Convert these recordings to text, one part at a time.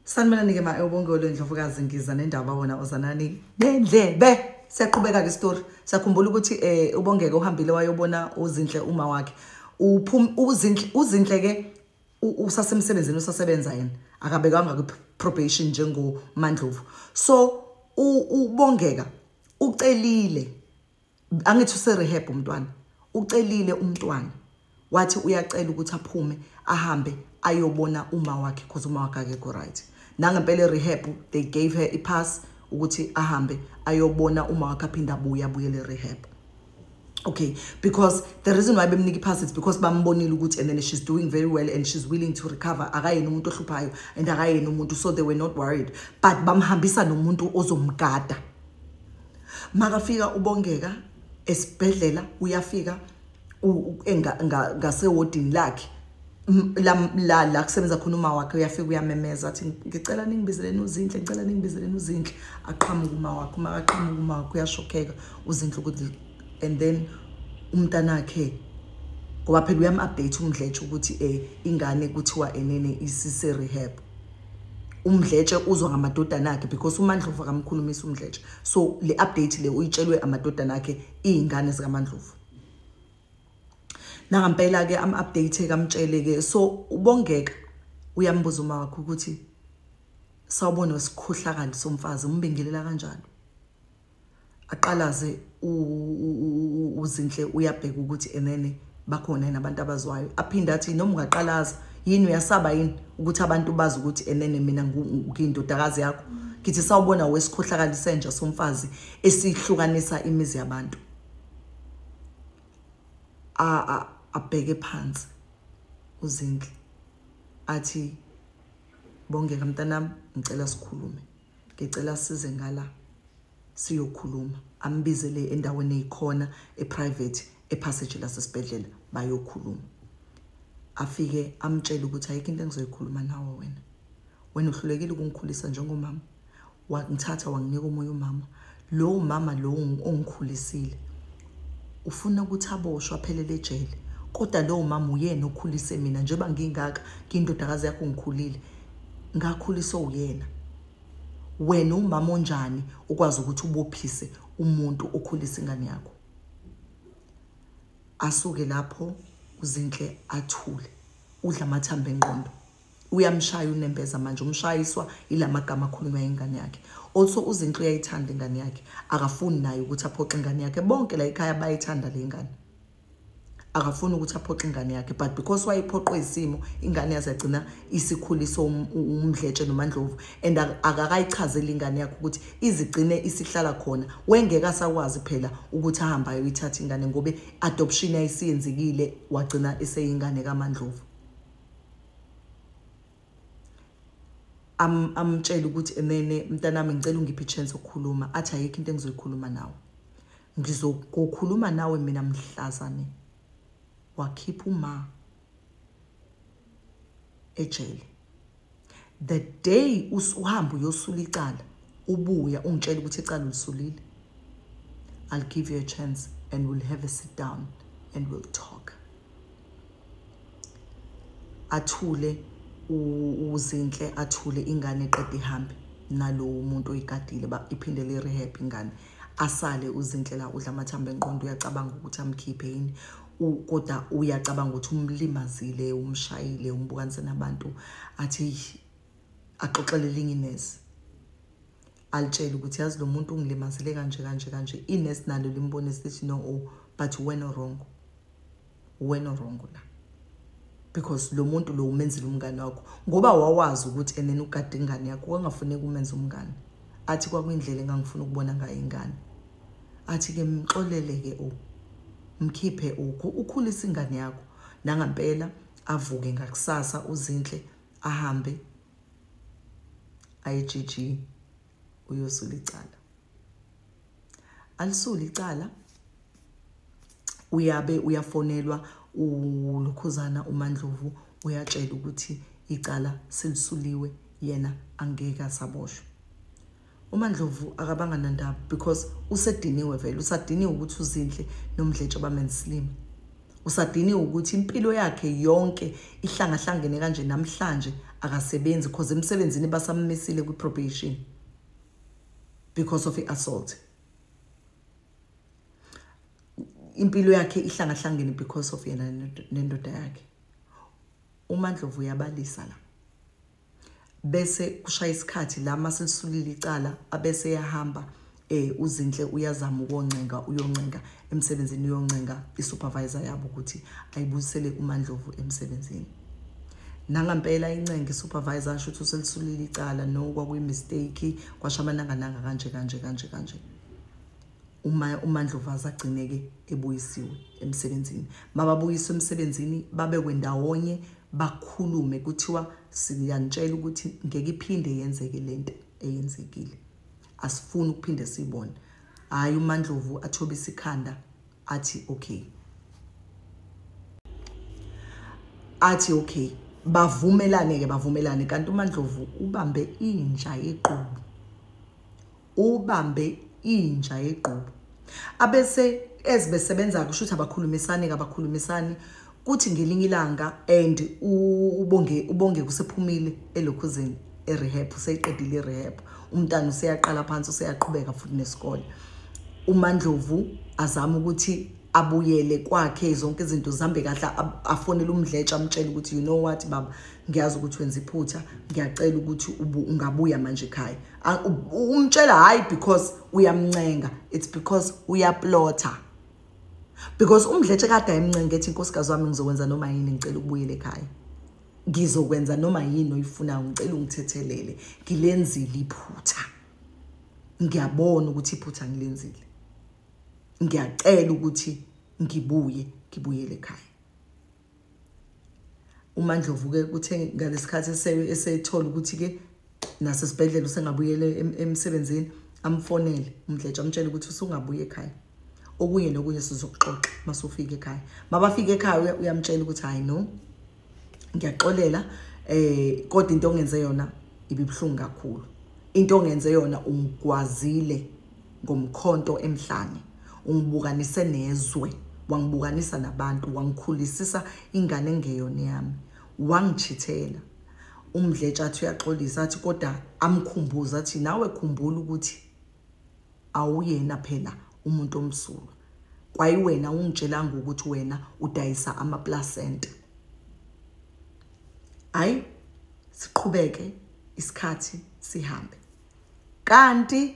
Sanibonani-ke ma ewubongole ndlovukazi ngiza nendaba wona ozanani nendlebe siyaqhubeka ke story sakhumbula ukuthi eh ubongeke uhambile wayobona uzinhle uma wakhe uphum uzinhle uzinhle ke usasemsebenzini usasebenza yena akabekanga ku probation njengo Mandlovu so ubongeka ucelile angithi userehab umntwana ucelile umntwana wathi uyacela ukuthi aphume ahambe ayobona uma wakhe because uma wakhe akekho right nangempela erehab they gave her ipass ukuthi ahambe ayobona uma wakhe aphinde abuye abuyele erehab okay because the reason why bemnika ipass is because bambonile ukuthi and then she's doing very well and she's willing to recover akayena umuntu ohluphayo and akayena umuntu so they were not worried but bamhambisa nomuntu ozomgada makafika ubongeka esibhedlela uyafika ngasewodini lakhe la la kusebenza khona uma wakhe uyafika uyamemeza athi ngicela ningibizeleni uzinhle ngicela ningibizeleni uzinhle aqhamuka uma wakhe uma aqhamuka uma wakhe uyashokheka uzinhle ukuthi and then umntanakhe ngoba phela uyam-update umdletshe ukuthi um ingane kuthiwa enene isise-rehab umdletshe uzwa ngamadodana akhe because umandlovu akamkhulumisa umdletshe so le update le uyitshelwe amadodana akhe izingane zikamandlovu nangampela ke am update kamtshele ke so ubongeka uyambuza uma wakho ukuthi sawubona wesikhohlakali somfazi umbingelela kanjalo aqalaze uzinhle uyabheka ukuthi enene bakhona yini abantu abazwayo aphinde athi noma ungaqalaza yini uyasaba yini ukuthi abantu bazi ukuthi enene mina ngiyindodakazi yakho ngithi sawubona wesikhohlakali senja somfazi esihlukanisa imizi yabantu a abheke phansi uzinhle athi bongeka mntanami ngicela sikhulume ngicela size ngala siyokhuluma ambizele endaweni eyikhona eprivate epassage lasesibhedlela bayokhuluma afike amtshele ukuthi ayikho into engizoyikhuluma nawe wena wena uhlulekile ukungikhulisa njengomama wangithatha wanginika omunye umama lowo mama lowo ongikhulisile ufuna ukuthi aboshwe aphelele ejele kodwa lowo mama uyena okhulise mina njengoba ngingaka ngindodakazi yakho ngikhulile ngakhuliswa uyena wena umama onjani ukwazi ukuthi ubophise umuntu okhulisa ingane yakho asuke lapho uzinhle athule udla amathambo enqondo uyamshaya unembeza manje umshayiswa ilamagama akhulunywa ingane yakhe also uzinhle uyayithanda ingane yakhe akafuni naye ukuthi aphoxe ingane yakhe bonke la ekhaya bayithanda le ngane akafuni ukuthi aphoxe ingane yakhe but because wayephoqwe isimo ingane yazagcina isikhuliso um-, umdletshe nomandlovu and akakayichazeli ingane yakhe ukuthi izigcine isihlala khona wengeke asakwazi phela ukuthi ahambe ayoyithatha ingane ngobe adoption ayisiyenzekile wagcina eseyingane kamandlovu am amtshela ukuthi enene mntanami ngicela ungiphe chance okukhuluma athi ayikho into engizoyikhuluma nawe ngizokukhuluma nawe mina mhlazane wakhipha uma ejele the day usuhamba uyosula icala ubuya ungitshela ukuthi icala ulisulile i'll give you a chance and we'll have a sit down and we'll talk athule uzinhle athule ingane eqeda ihambe nalowo muntu oyigadile iphinde le rehab ingane asale uzinhle la udla amathambo enqondo uyacabanga ukuthi amkhiphe yini kodwa uyacabanga ukuthi umlimazile umshayile umbukanise nabantu athi axoxele elinye inesi alitshele ukuthi yazi lo muntu ungilimazile kanje kanje kanje inesi nalo limbonise lithi no o oh, but wena wrong wena wrong la because lo muntu lo umenzile umngane wakho ngoba wawazi ukuthi enene ukade ingane yakho wangafuneki umenza umngane athi kwakuyindlela engangifuna ukubona ngayo ingane athi ke mxolele ke u mkhiphe ukho ukhulisa ingane yakho nangampela avuke ngakusasa uzinhle ahambe IGG uyosula icala alisula icala uyabe uyafonelwa ulokhuzana uMandlovu uyatshela ukuthi icala selisuliwe yena angeke asaboshwa UMaNdlovu akabanga nandaba because usediniwe vele usadiniwe ukuthi uZinhle noMdletshe bamenzisilima usadiniwe ukuthi impilo yakhe yonke ihlangahlangene kanje namhlanje akasebenzi because emsebenzini basammisile kwi-probation because of i-assault impilo yakhe ihlangahlangene because of yena nendoda yakhe umandlovu uyabalisa la bese kushaya isikhathi la masilisulile icala abese yahamba eh uzinhle uyazama ukoncenga uyoncenga emsebenzini uyoncenga isupervisor yabo ukuthi ayibuyisele uMandlovu emsebenzini nangampela incenga isupervisor asho ukuthi uselisulile icala no kwakuyi mistake kwashamananga nanga kanje kanje kanje kanje uma umandlovaza agcineke ebuyisiwe emsebenzini mababuyiswe emsebenzini babekwe ndawonye bakhulume kuthiwa siyanitshela ukuthi ngeke iphinde yenzeke lento eyenzekile asifuni ukuphinde sibone hayi umandlovu athobisa ikhanda athi okay athi okay bavumelane ke bavumelane kanti umandlovu ubambe inja yequbu ubambe inja yegqubu abese ezibesebenza kusho ukuthi abakhulumisani kabakhulumisani kuthi ngelinye ilanga and ubonge ubonge kusephumile elokhuzini erehab useyiqedile irehab umntana useyaqala phansi useyaqhubeka futhi nesikole umandlovu azama ukuthi abuyele kwakhe zonke izinto zihambe kahle afonele umdletsha amtshele ukuthi you know what baba ngiyazi ukuthi wenza iphutha ngiyacela ukuthi ungabuya manje ekhaya umtshela hayi because uyamncenga it's because uyaplotha because umdletshe kade ayimncenge ethi inkosikazi wami ngizokwenza noma yini ngicela ukubuyela ekhaya ngizokwenza noma yini oyifunayo ngicela ungithethelele ngilenzile iphutha ngiyabona ukuthi iphutha ngilenzile ngiyacela ukuthi ngibuye ngibuyele ekhaya uMandlovu ke kuthe ngalesikhathi esethola ukuthi ke nasesibhedlela usengabuyela emsebenzini amfonele umdletshe amtshele ukuthi usungabuye ekhaya okunye nokunye sizokuxoxa masufika ekhaya mabafika ekhaya uyamtshela ukuthi hayi no ngiyaxolela eh kodwa into ongenze yona ibibuhlungu kakhulu into ongenze yona ungigwazile ngomkhonto emhlane ungibukanise nezwe wangibukanisa nabantu wangikhulisisa ingane engeyona yami wangijithela umdletsha athi uyaxolisa athi kodwa amkhumbuza athi nawe khumbula ukuthi awuyena phela umuntu omsulwa kwayiwena ungitshelanga ukuthi wena udayisa amaplacenta hayi siqhubeke isikhathi sihambe kanti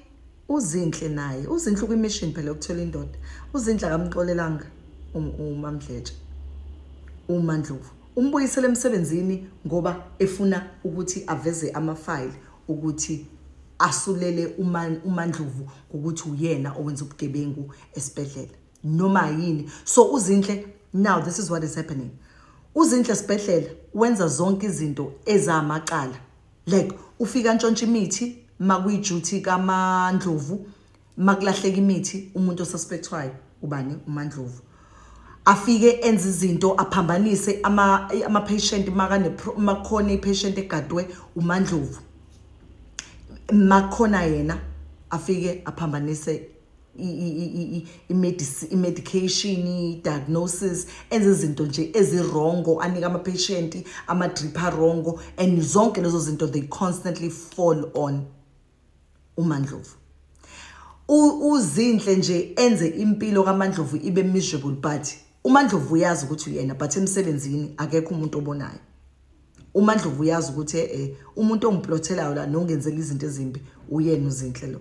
uzinhle naye uzinhle kwimission phela ukuthola indoda uzinhle akamxolelanga umamdletshe uma ndlovu umbuyisele emsebenzini ngoba efuna ukuthi aveze amafayili ukuthi asulele umandlovu ukuthi uyena owenza ubugebengu esibhedlela noma yini so uzinhle now this is what is happening uzinhle esibhedlela wenza zonke izinto ezamacala like ufika ntshontsha imithi makuyijuthi kamandlovu makulahleka imithi umuntu osuspectwayo ubani umandlovu afike enze izinto aphambanise ama ama patient makane makhona ipatient egadwe umandlovu makhona yena afike aphambanise i-medication i-diagnosis enze izinto nje ezirongo anike ama-patient ama-drip arongo and zonke lezo zinto they constantly fall on umandlovu uzinhle nje enze impilo kamandlovu ibe miserable but umandlovu uyazi ukuthi uyena but emsebenzini akekho umuntu obonayo uma ndlovu uyazi ukuthi e-e umuntu ongiplothelayo la nongenzela izinto ezimbi uyena uzinhle lo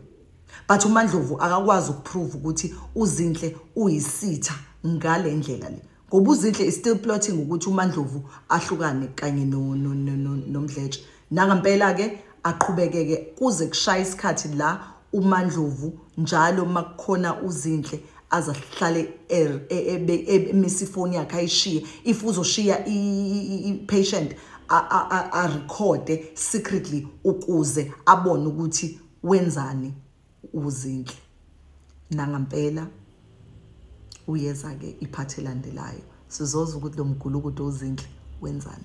but uma ndlovu akakwazi ukuprove ukuthi uzinhle uyisitha ngale ndlela le ngoba uzinhle is still plotting ukuthi umandlovu ahlukane kanye nomdletshe nangampela-ke aqhubekeke kuze kushaya isikhathi la uMandlovu njalo makukhona uzinhle azahlale er, e, e, e, emisa ifoni yakhe ayishiye if uzoshiya i-patient arekhode secretly ukuze abone ukuthi wenzani uzinhle nangampela uyeza-ke iphathi elandelayo sizoza ukuthi lo mgulukudu uzinhle wenzani